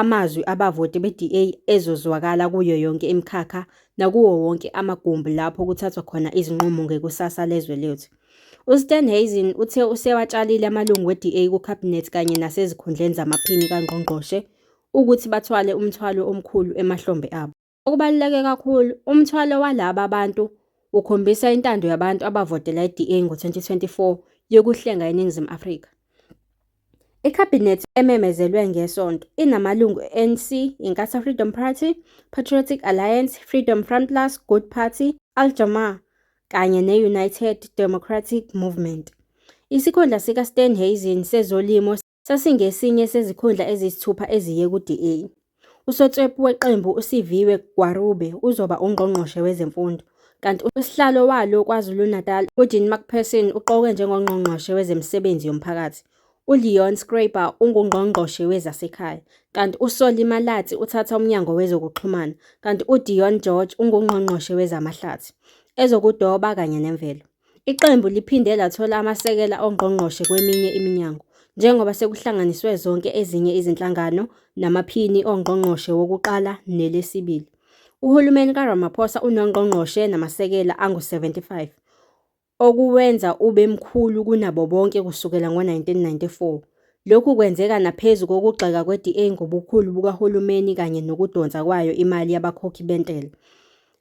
Amazwi abavoti be-DA ezozwakala kuyo yonke imikhakha nakuwo wonke amagumbi lapho kuthathwa khona izinqumo ngekusasa lezwe lethu. USteenhuisen uthe usewatshalile amalungu we-DA kuKhabhinethi kanye nasezikhundleni zamaphini kangqongqoshe ukuthi bathwale umthwalo omkhulu emahlombe abo. Okubaluleke kakhulu, umthwalo walaba bantu ukhombisa intando yabantu abavotela iDA ngo-2024 yokuhlenga iNingizimu Afrika. IKhabhinethi ememezelwe ngeSonto inamalungu e-ANC, Inkatha Freedom Party, Patriotic Alliance, Freedom Front Plus, Good Party, Al Jama-ah kanye ne-United Democratic Movement. Isikhundla sikaStan Hazen sezolimo sasingesinye sezikhundla eziyisithupha eziye ku-DA. Usotswebhu weqembu uSiviwe Gwarube uzoba ungqongqoshe wezemfundo, kanti usihlalo walo KwaZulu-Natal uJean McPherson uqokwe njengongqongqoshe wezemisebenzi yomphakathi. ULeon Schreiber ungungqongqoshe wezasekhaya, kanti uSolly Malatsi uthatha umnyango wezokuxhumana, kanti uDion George ungungqongqoshe wezamahlathi, ezokudoba kanye nemvelo. Iqembu liphinde lathola amasekela ongqongqoshe kweminye iminyango njengoba sekuhlanganiswe zonke ezinye izinhlangano namaphini ongqongqoshe wokuqala nelesibili. Uhulumeni kaRamaphosa unongqongqoshe namasekela angu-75, okuwenza ube mkhulu kunabo bonke kusukela ngo-1994. Lokhu kwenzeka naphezu kokugxeka kwe-DA ngobukhulu bukahulumeni kanye nokudonsa kwayo imali yabakhokhi bentela.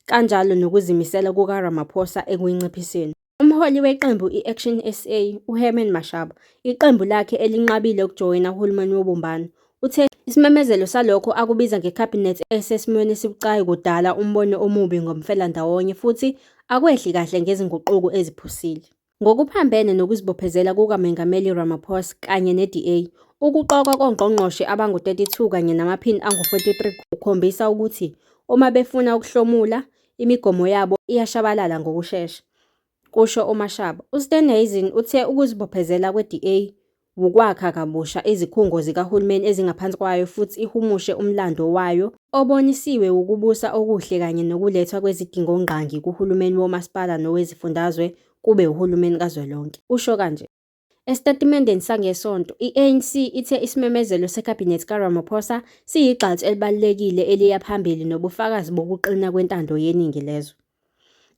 kanjalo nokuzimisela kukaRamaphosa ekuyinciphiseni. Umholi weqembu i-Action sa, uHerman Mashaba, iqembu lakhe elinqabile ukujoyina uhulumeni wobumbano, uthe isimemezelo salokho akubiza ngeKhabhinethi esesimweni esibucayi kudala umbono omubi ngomfelandawonye futhi akwehli kahle ngezinguquko eziphusile. Ngokuphambene nokuzibophezela kukaMengameli Ramaphosa kanye neDA, ukuqokwa kongqongqoshe abangu-32 kanye namaphini angu-43 kukhombisa ukuthi uma befuna ukuhlomula, imigomo yabo iyashabalala ngokushesha, kusho uMashaba. USteenhuisen uthe ukuzibophezela kweDA wukwakha kabusha izikhungo zikahulumeni ezingaphansi kwayo futhi ihumushe umlando wayo obonisiwe wukubusa okuhle kanye nokulethwa kwezidingongqangi kuhulumeni womasipala nowezifundazwe kube uhulumeni kazwelonke, usho kanje. Esitatimendeni sangeSonto, i-ANC ithe isimemezelo seKhabhinethi kaRamaphosa siyigxathu elibalulekile eliya phambili nobufakazi bokuqina kwentando yeningi lezwe.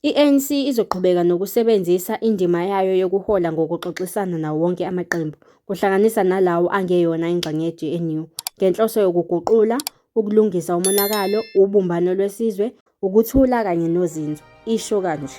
I-ANC izoqhubeka nokusebenzisa indima yayo yokuhola ngokuxoxisana nawo wonke amaqembu, kuhlanganisa nalawo angeyona ingxenye ye-GNU, ngenhloso yokuguqula, ukulungisa umonakalo, ubumbano lwesizwe, ukuthula kanye nozinzo, isho kanje.